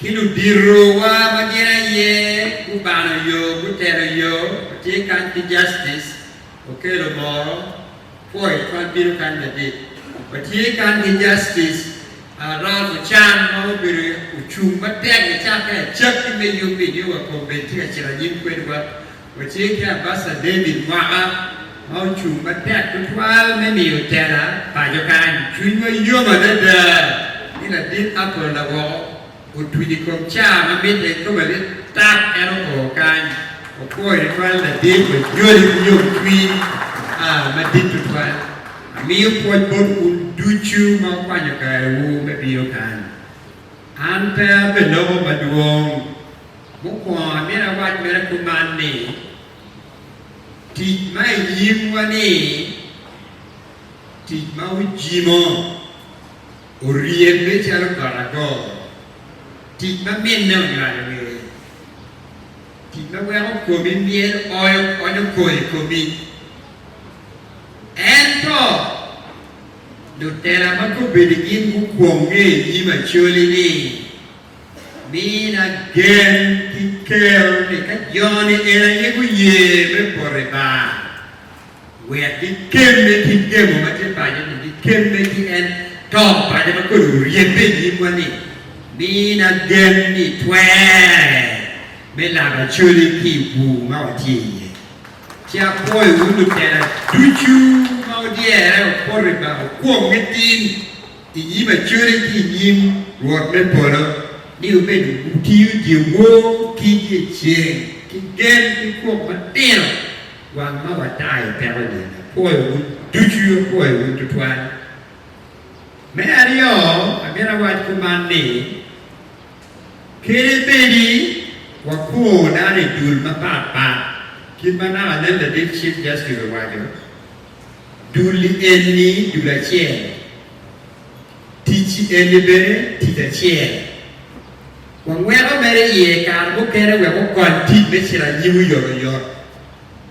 Ki luditowa ma gin aye gubano yo, gutero yo, watye kany ki Justice Okello Moro, Foy twal bino kany madit. Watye kany ki Justice Ralph Ochan ma obedo ocung matek nicakke acakki me UP, nio wa Combet tye ka cito anyim kwedwa. Wacir ki Abasha David Mwaka ma ocung matek tutwal me miyo tela paco kany. Cwinywa yom adada ni ladit Apple Lawoko otuc i kom caa ma mitte ki kome lit tap en oo kany. Wapwoyi tutwal ladit, wanyodi ki yomcwiny madit tutwal. Amiyo pwoc bot wun ducu ma wukwanyo karewu me bino kany. An pe abeloko madwong. Mukwongo, amito awac mere kuman ni, tic ma i nyimwa-ni, tic ma ojimo, oryebbe calo got agor, tic ma minne onywalo ngeye, tic ma weko komi myel oyo onyo kor i komi. Ento, lutela ma kobedi gin gukwonge i nyim Acholi ni Min agen ki kel ni ka joni en aye guye me poto i bar, wek gikemme ki gemo ma tye paco ni, gikemme ki en to paco ma kodi oryebbe i nyimwa ni, Min agen ni twerre me laba coli ki i bur ma watye iye. Ci apwoyo wun lutela ducu ma odyere opoto i bar okwong nitin. i nyim acodi ki i nyim Rwot me polo, ni obedo gutiyo dyewor ki dyeceng ki gen ki kwok matino, wang ma watayo peko ni, Apwoyowu ducu, apwoyowu tutwal. Me aryo, amito awac kuman ni, Kede bedi wakur dano i dul mapatpat, kit ma naka nen ladit cik Justice owaco, Dul-li en-ni dul acel, tic-ci en-ni bene tic acel. Wangweko mere iye kare mukene wek okony tic me cito anyim oyot oyot,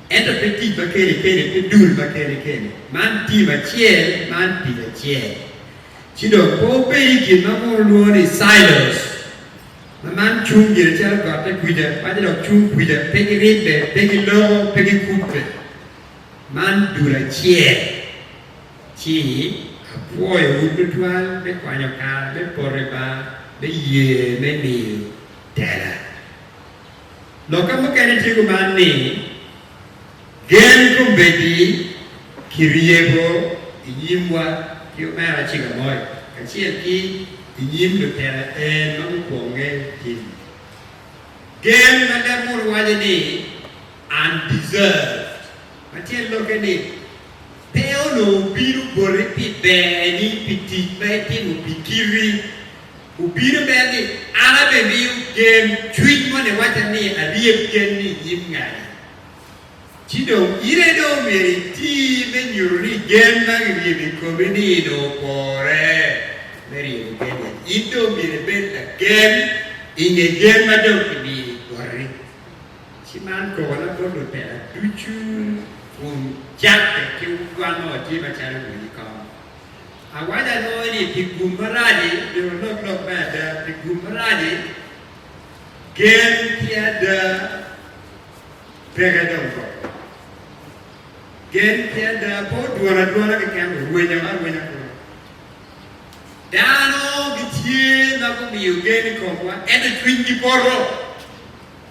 ento pe tic ma kene kene, pe dul ma kene kene. Man tim acel, man tic acel. Ci dong pe wubed i gin ma mono olwongo ni silos, ma man cung gire calo gotte kwija, paco dok cung kwija, pe giribbe, pe giloko, pe gikubbe. Man dul acel, ci apwoyowu tutwal me kwanyo kare me poto i ba me ye me miyo tela. Lokka mukene tye kuman ni, Gen kombeddi ki ryeko i nyimwa ki Omera Chigamoy kacel ki i nyim lutela en ma gukwonge Jim. Gen ma leb munu waco ni, undeserved, ma tyen lokke ni, pe onongo obino boti pi berni pi tic ma itimo pi kiti. Obino mere ni, An abimiyo gen cwiny mo niwacca ni aryeb gen-ni i nyim ngani. Ci dong in aye dong omyero iti me nyuto ni gen ma kiryebo i komi-ni dong opore me ryebo gen en. In dong omyero ibed lagen i nge gen ma dong kimiyo i koti. Ci man kor na bot lutela ducu kun Jake ki wanwa watye macalo bul i kom. Awaco alongo ni pi gum marac-ci, myero walok lok me ada, pi gum marac-ci, gen ki ada peke dong kong. Gen ki ada pe odwon adwona keken, orwenyo arwenya kunu. Dano gitye ma gumiyo gen i komwa, ento cwinygi poto.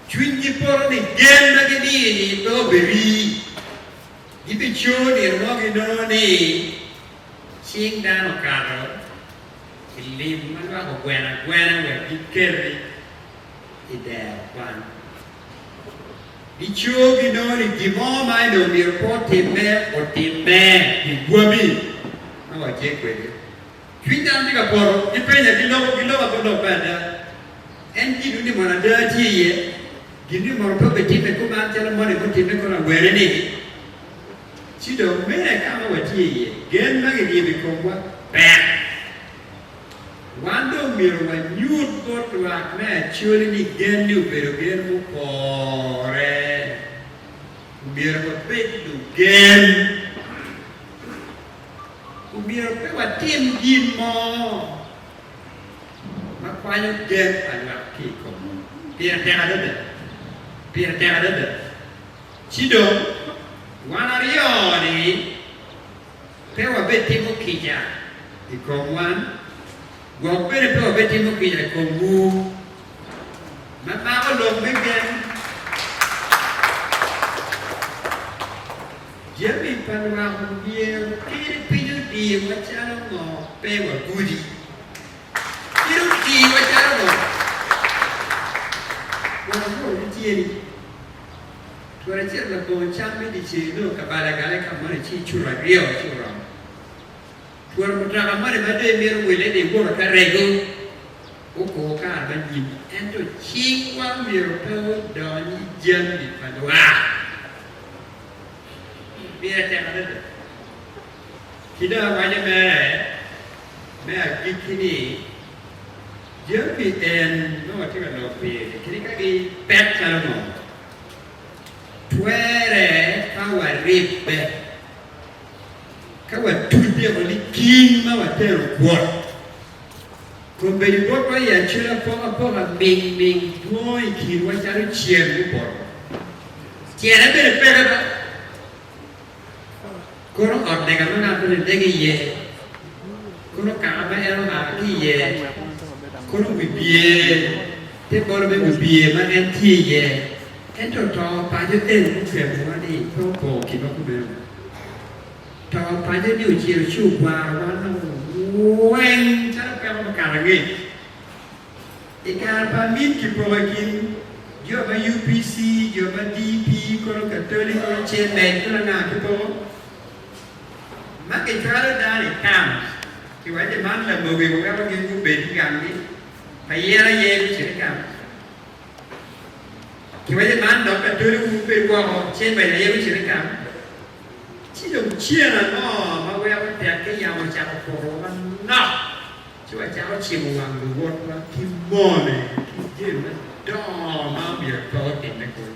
Cwinygi poto ni gen ma gidiyo-ni pe obiri. Gibicoyo nino mo ginongo ni cing dano okato i lim ma lwak ogweno agwena wek giketi i dero kwan. Gicoyo ginongo ni gin mo ma en dong myero pe otimme, otimme pi gwami ma watye kwede. Cwiny dano tye ka poto, gipenya, giloko, giloko ago lok me ada. En gin ni mono ada tye iye? Gin ni mono pe obitimme kuman calo moni mutimme kono awene-ni? Ci dong, mene ka ma watye iye, gen ma giryebo i komwa ber. Wan dong myero wanyut bot lwak me Acholi ni gen-ni obedo gen mupore. Omyero wabed lugen. omyero pe watim gin mo ma kwanyo gen pa lwak ki i komwa. Pire tek adada! Pire tek adada! Ci dong, wan aryo-ni pe wabed timo kica i kom wan, gwok bene pe wabed timo kica i komwu ma mako lok me gen. Jami pa lwak myero pire piny odiyowa calo ngo pe wagudi? Pire odiyowa calo ngo? Wot akwor ki tyeni. Twol acel labongo cam me dyeceng nongo kabalo agale ka moni ci icuto aryo ci oromo. Twol mutoka moni ma dong imito wille ni iwot oka regu gukur kare ma nyim. Ento cingwa myero pe odony i jami pa lwak. Miya cen adada. Ci dong awaco mere me agikki ni, Jami en ma watye ka lok iye-ni kadi ka gipek calo ngo, twere ka waribbe ka watute woko ni king ma watero kwot. Kombeddi botwa i acel apokapoka mingming dwongo i kinwa calo ceng mupoto. Tyene bene peke ba? Kono ot lega ma ngat moni lego iye? Kono kaka ma en omako ki iye? Kono wibye, te bolo me wibye ma en tye iye? Ento to paco eni mukemmowa ni pe opoko kinwa kumeno. To panye ni ociro ci ogwaro wan nongo weng calo peko me kato angec. I kare pa amin kipoko i kin jo ma UPC, jo ma DP, kono Katoli, kono Cemen, kono anga kipoko ma kicwalo dano i camps kiwaco ni man lamogi waweko gin gubed ki gamgi pa yen aye gucit i camps. Kiwaco ni man dok Katoli wubed woko, Cemen aye gucit i camps. Ci dong cen ango ma weko tek ki yamo ocako kurowa manok ci wacako cimo wang luwotwa ki mone ki gen madongo ma omyero pe otimme kulu?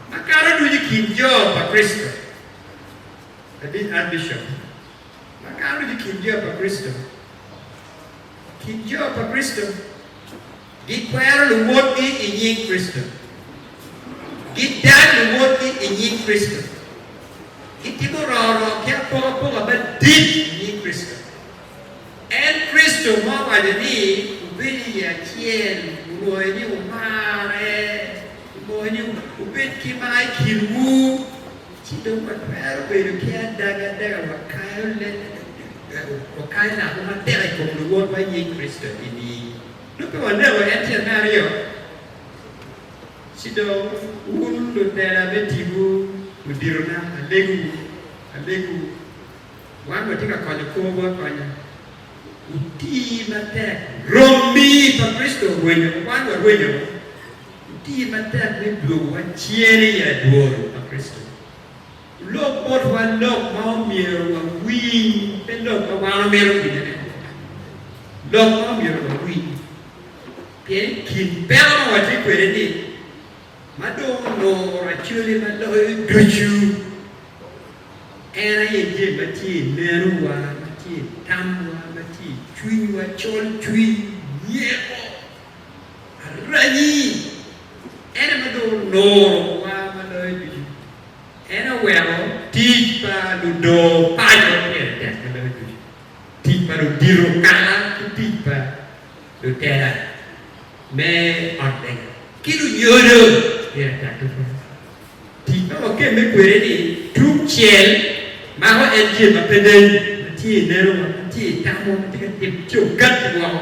Makato ducu i kin jo pa Kricito, Abit Archbishop, makato ducu i kin jo pa Kricito, i kin jo pa Kricito. Gikwero luwotgi i nying Kricito. Gidang luwotgi i nying Kricito. Gitimo rorok ki apokapoka madit i nying Kricito. En Kricito ma owaco ni wubed iye acel, wurwoye ni wumarre, wumoye ni wubed ki mar i kinwu, ci dong watwero bedo ki adaga adaga wakayo lako matek i kom luwotwa i nying Kricito. Eni. Dok ka waneko en tyen me aryo, ci dong wun lubela me tipo luditona, alegowu, alegowu, wan watye ka konyo korwu akonya. Wuti matek, rombi pa Kricito orwenyo, wan warwenyo, wuti matek ni dwogowa cen i adwogi pa Kricito. Lok botwa lok ma omyero wawiny, pe lok ma wan wamito winyone. Lok ma omyero wawiny, pien i kin peko ma watye kwede-ni, ma dong onongo racone ma loyo ducu, en aye jami ma tye i nenowa, ma tye i tamwa, ma tye i cwinywa, colcwiny, myeko, aranyi. En aye ma dong onuro wa ma loyo ducu. En oweko tic pa ludoo paco pire tek ma meno ducu, tic pa ludito kara ki tic pa lutela me ot lega ki lunyodo pire tek tutwal. Tic ma wakemme kwede ni tungcel mako en ce ma pe neni, ma tye i neno wa, ma tye i tamo, ma tye ka timo cogat woko.